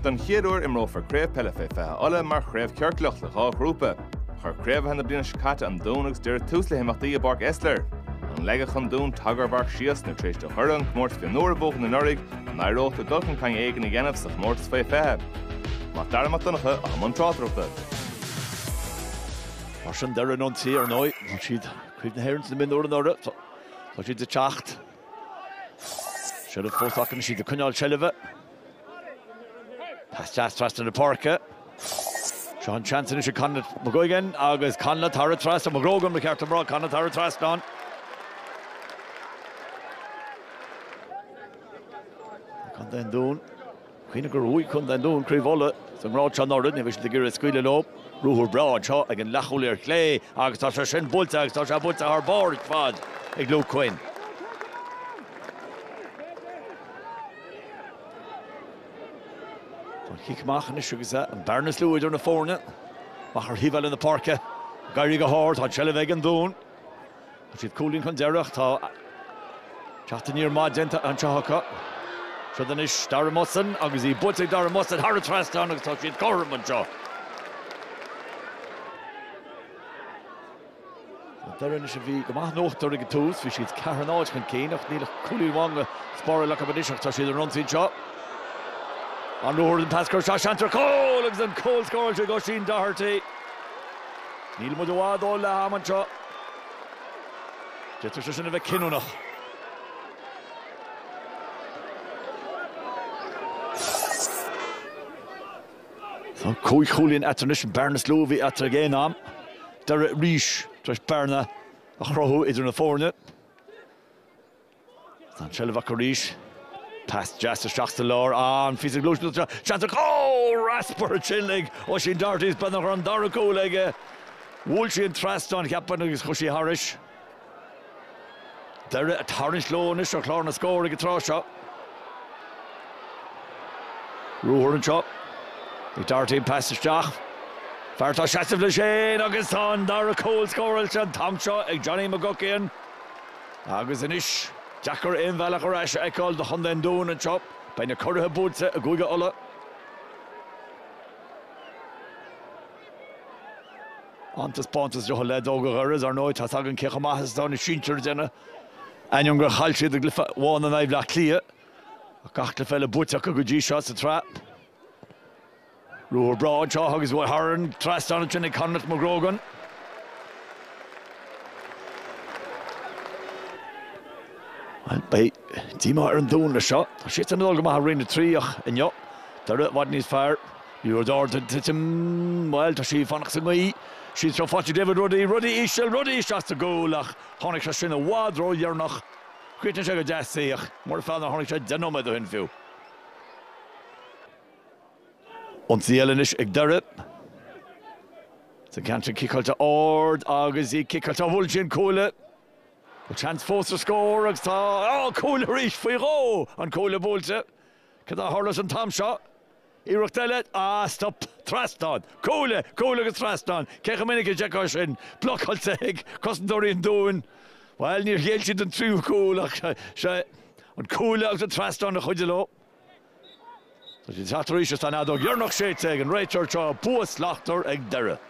Don chéad uair imreofar Craobh Peile Fé 20 Uladh mar chraobh chiorclach le dhá ghrúpa. Chuir curaidh na bliana seo caite An Dún agus Doire tús le himeachtaí i bPáirc Esler. An leagfadh An Dún tagarmharc síos nó tar éis do Dhoire an comórtas mionúir a bhuachan anuraidh, an n-éireodh leo dul chun cinn éigin a dhéanamh sa chomórtas Fé 20? Mac Dara Mac Donncha, i mbun tráchtaireachta. Mar sin Doire, an té ar ndóigh, bhuaigh siad Craobh na hÉireann sna mionúir anuraidh, tá siad ag teacht. Seilbh fós acu, tá siad ag coinneáil seilbhe. Pas deas trasna na páirce. Seo an seans anois ag Conleth McGuigan agus Conleth thar an trasnán. McGrogan ba cheart dom a rá, Conleth thar an trasnán. Contae an Dúin. Cuimhnigh gur bhuaigh Contae an Dúin Craobh Uladh sa ngrád seo anuraidh ní bheidh siad ag iarraidh scaoileadh leo. Ruathar breá anseo ag an leathchúlaí ar clé agus tá sé sin buailte agus tá sé buailte thar barr ar fad ag Luke Quinn. Tá an cic amach anois agus é an bhearna is lú idir na foirne. Amach ar thaobh eile na páirce. Ag éirí go hard, tá an tseilbh ag an Dún. Tá siad cúilín chun deiridh. Tá teacht aniar maith déanta anseo acu. Seans anois Darragh Mutson agus í buailte ag Darragh Mutson thar an trasnán agus tá siad cothrom anseo. Doire anois a bhí go maith in uachtar ag an tús, bhí siad ceathair a náid chun cinn ach níl ach cúilín amháin le spáráil acu anois ach tá siad ar an ionsaí anseo. An ruathar an pas gearr seo seans ar chúl agus an cúl scóráilte ag Oisín Doherty. Níl muid i bhfad ó leath ama anseo. D'fhéadfadh sé sin a bheith cinniúnach. Tá cúig chúilín eatarthu anois, an bhearna is mó a bhí eatarthu ag aon am. Doire arís tar éis bearna a chruthú idir na foirne. Tá an tseilbh acu arís. Pas deas isteach sa lár. An-phíosa gluaiseachta seo, seans ach Oh! Ropaire sin ag Oisín Doherty is beag nach raibh an dara cúl aige. Bhuail sí an trasnán, cheapfainn, agus chuaigh sí thairis. Doire ag tarraingt leo anois ar chlár na scór ag an tráth seo. Ruathar anseo ag Doherty an pas isteach. Fear atá ag seasamh leis féin agus tá an dara cúl scóráilte an t-am seo ag Johnny McGuckian. Agus anois, deacair aon bhealach ar ais a fheiceáil do Chontae an Dúin anseo. Beidh na curaidh buailte i gCúige Uladh. An-taispeántas ó leaids óga Dhoire is ar ndóigh, tá a fhios againn cé chomh maith is atá na sinsir ag déanamh, ainneoin gur chaill siad i gcluiche amháin in aghaidh Bhleá Cliath. Ach gach cluiche eile buaite acu go dtí seo sa tsraith. Ruathar breá anseo agus buailte thar an trasnán ansin ag Conleth McGrogan. Bhuel, beidh díomá ar an Dún leis seo. Tá siadsan ag dul go maith i Roinn 3 ach inniu Doire i bhfad níos fearr. Ní raibh dár duine titim. Bhuel, tá sí ag fanacht sa ngaoth. Í seo faighte David Ruddy. Ruddy íseal, Ruddy isteach sa gcúl ach tháinig sé sin i bhfad ródheireanach. Chríochnaigh sé go deas í ach nach mór an feall nár tháinig sé deich nóiméad ó shin fiú. Ionsaí eile anois ag Doire. Sa gceantar ciceáilte ard agus í ciceáilte. buailte ag an gcúlaí? Bhuel seans fós ar scór agus tá. Á! Cúl arís! Faoi dhó an cuaille buailte. Cad a tharlós an t-am seo? Iarracht eile. Á! Stop! Trasnán! Cuaille! Cuaille agus trasnán! Cé chomh minic a d'fheicfeá sin? Blocáilte ag cosantóirí an Dúin. Bhuel níor ghéill siad don tríú cúl ach seo é. An cuaille agus an trasnán a chuidigh leo. Tá sé thart arís is tá an fheadóg dheireanach séidte ag an réiteoir seo. Bua slachtmhar ag deireadh.